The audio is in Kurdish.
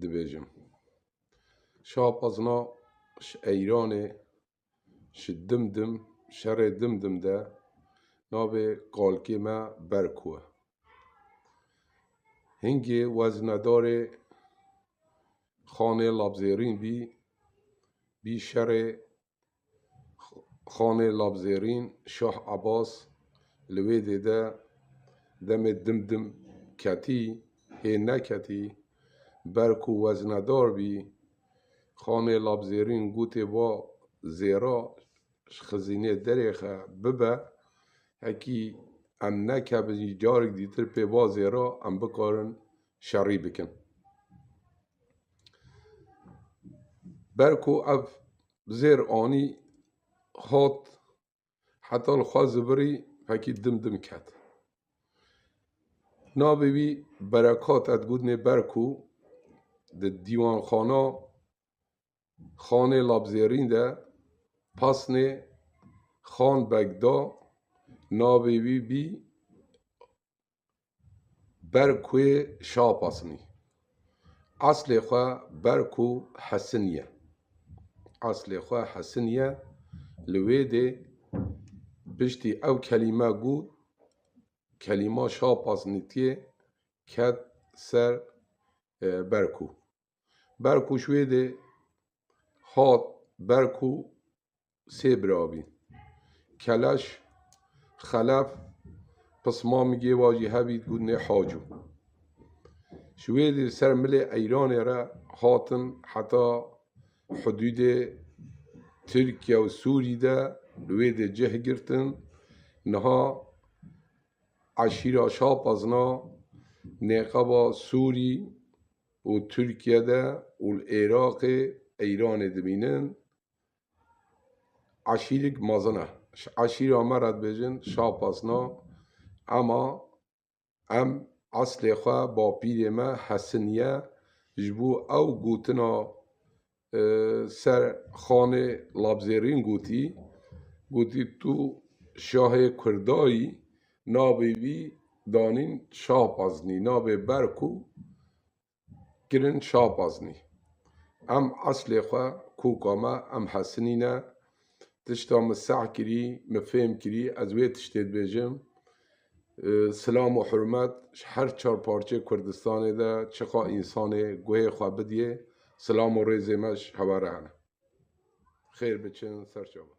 dibêjim. Şapazna ji Eyranê ji dim dim şerê dim dim de navê kalkê me berk we. Hingê weznedarê Xanê Labzêrîn bî bî şerê Xanê Labzêrîn, Şah Ebas li wê dê de demê dim dim ketî, hê neketî, ber ku weznedar bî. Xanê Labzêrîn gotê va zêra ji xizînê derê xe bibe, hekî em nekevin jî carek dîtir pê va zêra em bikarin şerî bikin. Ber ku ev zêr anî hat heta li xwe zibirî fekî dim dim ket. Navê wî Berekat e digotinê ber ku di dîwanxana Xanê Labzêrîn de pasnê Xan Beg da navê wî bî Ber ku yê şapasinî. Eslê xwe ber ku hesin ye. Eslê xwe hesin ye. Li wê dê piştî ew kelîme got, kelîma şapasinî tiyê ket ser ber ku. Ber ku ji wê dê hat ber ku Sê biravî, Keleş, Xelef, Pismamigê wa jî hevî digotinê Haco. Ji wê dî li ser milê Eyranê re hatin heta hidûdê Tirkiye û Sûrî de li wê dê cih girtin. Niha eşîra Şapezna nêqeba Sûrî û Tirkiye de û li Iraqê Eyranê dimînin. Aşîrîk mezin e. Ji aşîra me re dibêjin şapasna ema em eslê xwe bapîrê me hesiniye ji bo ew gotina ser xanê labzêrîn gotî, gotî tu şahê kurdayî navê wî danîn şahpaznî navê ber ku kirin şapaznî. Em eslê xwe, koka me, em Hesinî ne. Tişta min seh kirî, min fêm kirî, ez wê tiştê dibêjim. Silam û hurmet ji her çar parçeyê Kurdistanê de çiqa însanê guhê xwe bidiyê, silam û rêzê me ji hewa re hene. Xêr biçin, serçe bin.